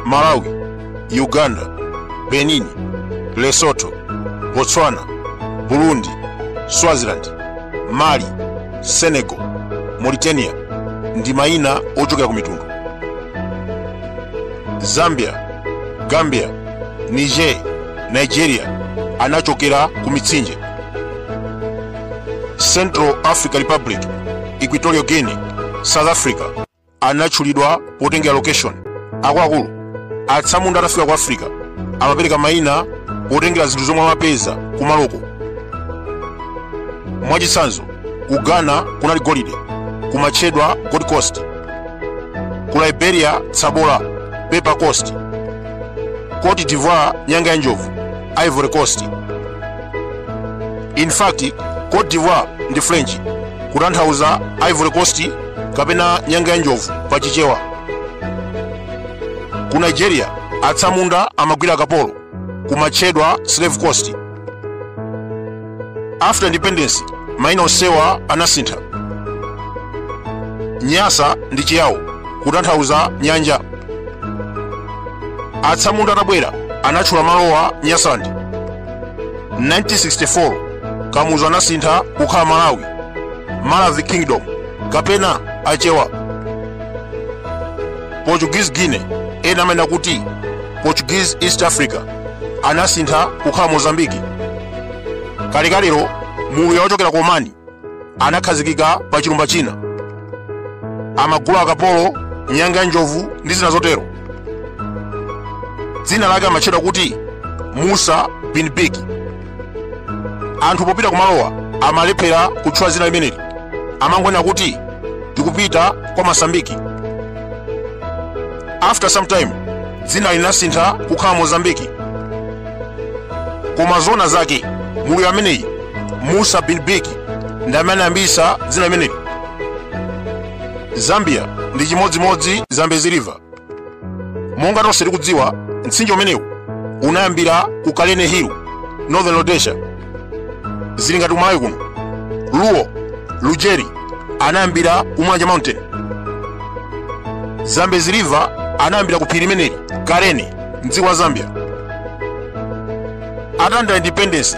malawi uganda benin lesotho botswana burundi swaziland mali senegal mauritania ndi mayina ochokera ku mitundu zambia gambia niger nigeria anachokera ku mitsinje central africa republic equatorial guinea south africa anatchulidwa potengera location akuluakulu atsamunda atafika ku africa amapereka mayina potengera zinthu zomwe amapeza kumaloko mwachitsanzo ku ghana kunali golide kumatchedwa gold coast ku liberia tsabola pepper coast cote divoire nyanga ya njovu ivory coast in fact cote divoire ndi french kutanthauza ivory coast kapena nyanga ya njovu pa chichewa ku nigeria atsamunda amagwira akapolo kumatchedwa slave coast after independence maina onsewa anasintha nyasa ndi chiyawo kutanthauza nyanja atsamunda atabwera anatchula malowa nyasaland 1964 kamuzu anasintha kukhala malawi maravi kingdom kapena achewa portuguese guinea ena amanena kuti portuguese east africa anasintha kukhala mozambiki kalekalero mluya wochokera ku omani anakhazikika pa chilumba china amagula akapolo nyanga ya njovu ndi zina zotero dzina lake amatchedwa kuti musa bin biki anthu popita kumalowa amalephera kutchula dzina limeneli amangonena kuti tikupita kwa masambiki after some time dzina linasintha kukhala mozambiki koma zona zake mluya ameneyi musa bin biki ndi amene anayambitsa dzina limeneli zambia ndi chimodzimodzi zambezi river monga tonse tikudziwa mtsinje umenewu unayambira ku kalene hill northern rhodesia zili ngati kumalawi kuno ruo lujeri anayambira ku mulanje mountain zambezi river anayambira ku phiri limeneli kalene mdziko la zambia atalandira independence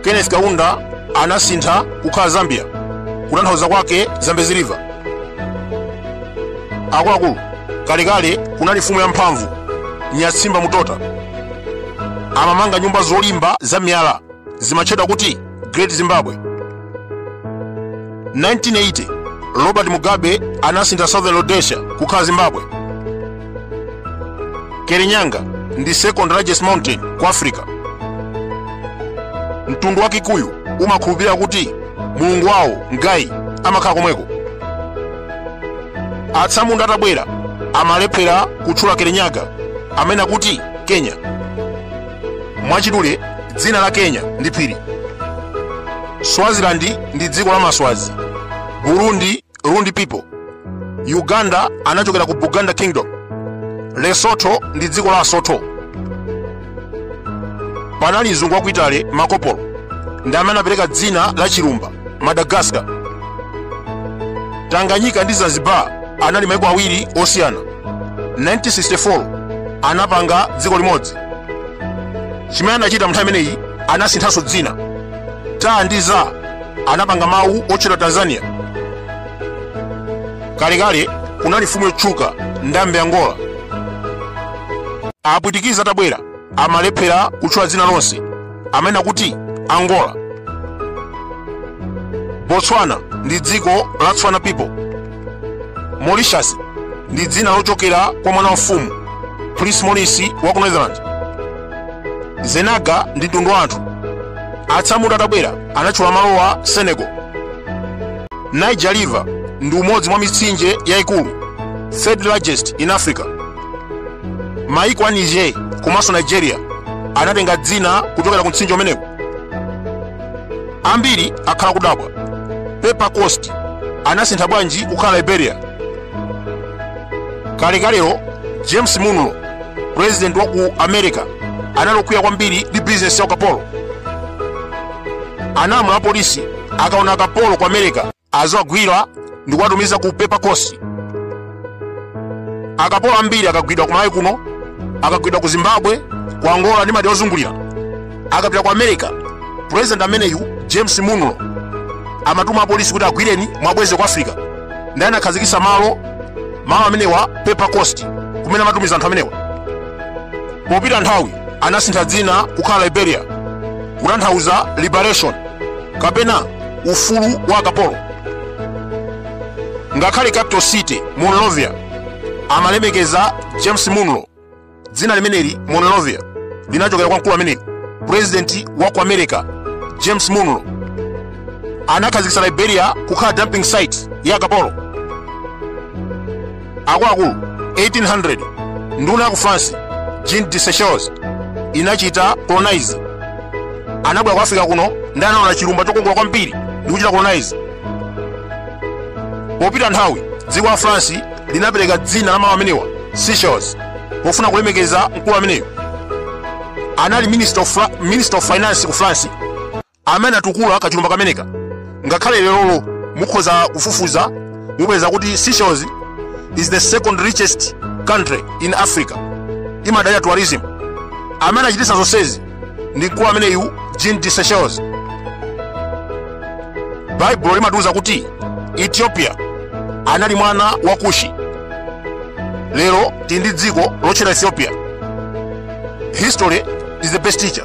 kenneth kaunda anasintha kukhala zambia kutanthauza kwake zambezi river akuluakulu kalekale kunali mfumu yamphamvu nyatsimba mutota amamanga nyumba zolimba za miyala zimatchedwa kuti great zimbabwe 1980 robert mugabe anasintha southern rhodesia kukhala zimbabwe kirinyaga ndi second largest mountain ku africa mtundu wa kikuyu umakhulupirira kuti mulungu wawo ngai amakhala komweko atsamunda atabwera amalephera kutchula kirinyaga amene akuti kenya mwachidule dzina la kenya ndi phiri swaziland ndi dziko la maswazi burundi rundi people uganda anachokera ku buganda kingdom lesotho ndi dziko la asotho panali mzungu wa ku italy marco polo ndi amene anapereka dzina la chilumba madagascar tanganyika ndi zanzibar anali maiko awiri osiyana 1964 anapanga dziko limodzi chimene anachita mnthawi imeneyi anasinthanso dzina ta ndi za anapanga mawu otchedwa tanzania kalekale kunali mfumu yotchuka ndambi a ngola apwitikizi atabwera amalephera kutchula dzina lonse amene akuti angola botswana ndi dziko la tswana people mauritius ndi dzina lochokera kwa mwana wa mfumu prince maurice wa ku netherlands zenaga ndi mtundu wa anthu atsamunda atabwera anatchula malowa senegal niger river ndi umodzi mwa mitsinje yayikulu third largest in africa maiko a niger komanso nigeria anatenga dzina kuchokera ku mtsinje umenewu ambiri akhala akudabwa pepper coast anasintha bwanji kukhala liberia kalekalero james monroe president wa ku america anali okwiya kwambiri ndi bizinesi ya ukapolo analamula apolisi akaona akapolo ku america aziwagwira ndi kuwatumiza ku pepper coast akapolo ambiri akagwidwa ku malawi kuno akagwidwa ku zimbabwe ku angola ndi madera ozungulira akapita ku america president ameneyu james monroe amatuma apolisi kuti agwireni muwabweze ku africa ndiye anakhazikitsa malo malo amenewa pepper coast kumene amatumiza anthu amenewa popita nthawi anasintha dzina kukhala liberia kutanthauza liberation kapena ufulu wa akapolo ngakhale capital city monrovia amalemekeza james monroe dzina limeneli monrovia linachokera kwa mkulu ameneyu purezidenti wa ku america james monroe anakhazikitsa liberia kukhala dumping site ya akapolo akuluakulu 1800 nduna ya ku france jean de sechelles inachita colonize anabwera ku africa kuno ndiye anaona chilumba chokongola kwambiri ndi kuchita colonize popita nthawi dziko la france linapereka dzina la malo amenewa seychelles pofuna kulemekeza mkulu ameneyo anali minister of, Fra- minister of finance ku france amene atukula kachilumba kameneka ngakhale lerolo mukhoza kufufuza mupeza kuti seychelles is the second richest country in africa imadalira tourism amene achititsa zonsezi ndi mkulu ameneyu jean de seychelles baibulo limatiuza kuti ethiopia anali mwana wa kushi lero tili ndi dziko lotchedwa ethiopia history is the best teacher